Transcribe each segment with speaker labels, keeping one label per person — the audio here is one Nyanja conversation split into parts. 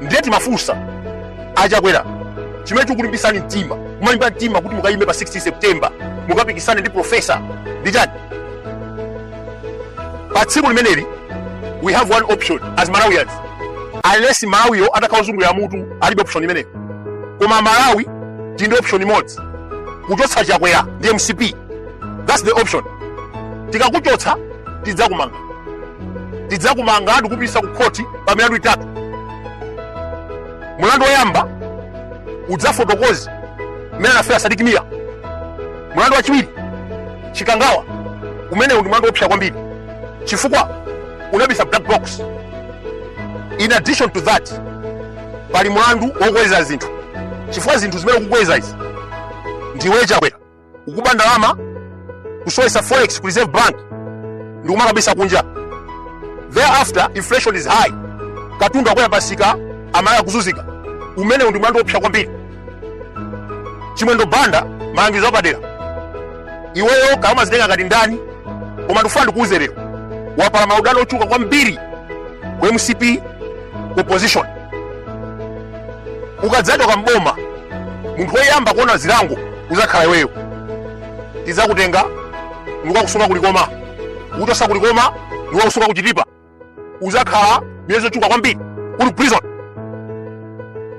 Speaker 1: ndiye timafunsa achakwera chimene chikulimbisani mtima kumalimba mtima kuti mukayime pa 16 september mukapikisane ndi profesa ndi chani pa tsiku limeneli we have one option as malawians unless malawiyo atakhala ozungulira mutu alibe option imeneyo koma malawi tili ndi option imodzi kuchotsa chakwera ndi mcp that's the option tikakuchotsa tidzakumanga tidzakumanga ndi kukupititsa ku khoti pa milandu itatu mulandu woyamba udzafotokoze mmene anafera sadiki miya mulandu wachiwiri chikangawa umeneu ndi mulandu woopsa kwambiri chifukwa unabisa black box in addition to that pali mulandu wokweza zinthu chifukwa zinthu zimene ukukweza izi ndiwe chakwera ukuba ndalama kusowetsa forex ku reserve bank ndikumakabisa kunja thereafter inflation is high katundu akukwera pamsika aMalawi akuzunzika umeneu ndi mlandu woopsa kwambiri chimwendo banda malangizo apadera iweyo kaya umadzitenga ngati ndani koma ndifuna ndikuuze lero wapala maudani ochuluka kwambiri ku mcp ku opposition ukadzachoka mboma munthu woyamba kuona zilango uzakhala iweyo tidzakutenga ndikukakusunga kulikoma ukuchotsa kulikoma ndikukakusunga kuchitipa uzakhala miyezi yochuluka kwambiri uli prison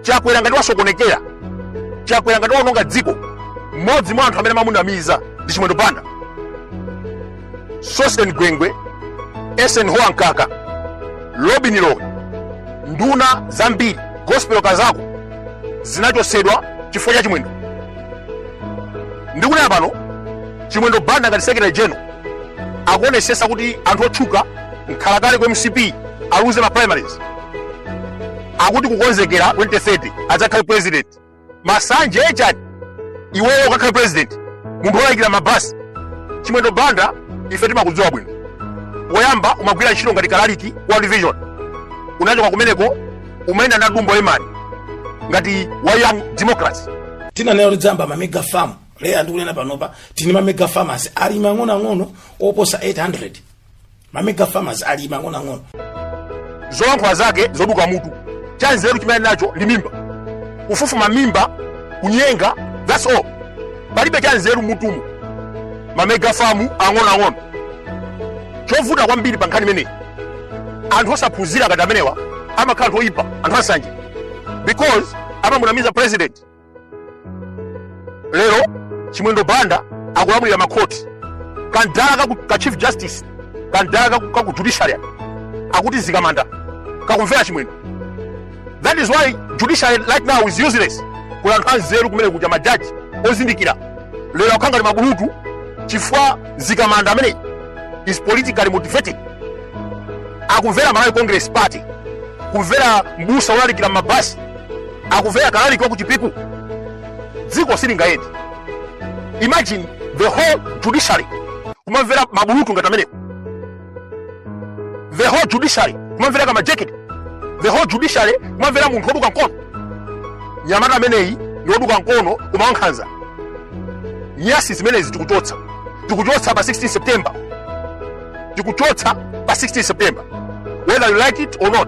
Speaker 1: chakwera ngati wasokonekera chakwera ngati waononga dziko mmodzi mwa anthu amene amamunamiza ndi chimwendo banda sosten gwengwe eisenhower mkaka lobin lowe nduna zambiri gospel kazako zinachotsedwa chifukwa cha chimwendo ndikunena pano chimwendo banda ngati secretary general akuonetsetsa kuti anthu otchuka mkhalakale ku mcp aluze ma primaries akuti kukonzekera 2030 adzakhale president masanje achani iweyo ukakhale president munthu olayikira mabasi chimwendo banda ife timakudziwa bwino poyamba umagwira ntchito ngati kalaliki wa division unachoka kumeneko umayenda na dumbo lemani ngati wa young democrat tinanena kuti tidzayamba
Speaker 2: ma mega farm lero ndikunena panopa tili ndi ma mega farmers alimi ang'onoang'ono oposa 800 mamega farmers alimi ang'onoang'ono
Speaker 1: zolankhula zake zoduka mutu chanzeru chimene ali nacho ndi mimba kufufuma mimba kunyenga that's all palibe chanzeru m'mutumu mamega famu ang'onoang'ono chovuta kwambiri pa nkhani imeneyi anthu osaphunzira ngati amenewa amakhala anthu oyipa anthu ansanje because amamunamiza president lero chimwendo banda akulamulira makhoti kamdala kaku, ka chief justice kamdala kaku, kaku judiciary akuti Zikamanda kakumvera chimwendo that is why judiciary right now is useless kuli anthu anzeru kumene kuja majaji ozindikira lero akukhala ngati mabulutu chifukwa Zikamanda ameneyi is politically motivated akumvera malawi congress party kumvera mbusa wolalikira m'mabasi akumvera kalaliki wa ku chipiku dziko silingayende imagine the whole judiciary kumamvera mabulutu ngati amenewo the whole judiciary kumamvera kama jacket the whole judiciary kumamvera munthu woduka mkono mnyamata ameneyi ndi woduka mkono koma wankhanza nyasi zimenezi tikuchotsa tikuchotsa pa 16 september tikuchotsa pa 16 september whether you like it or not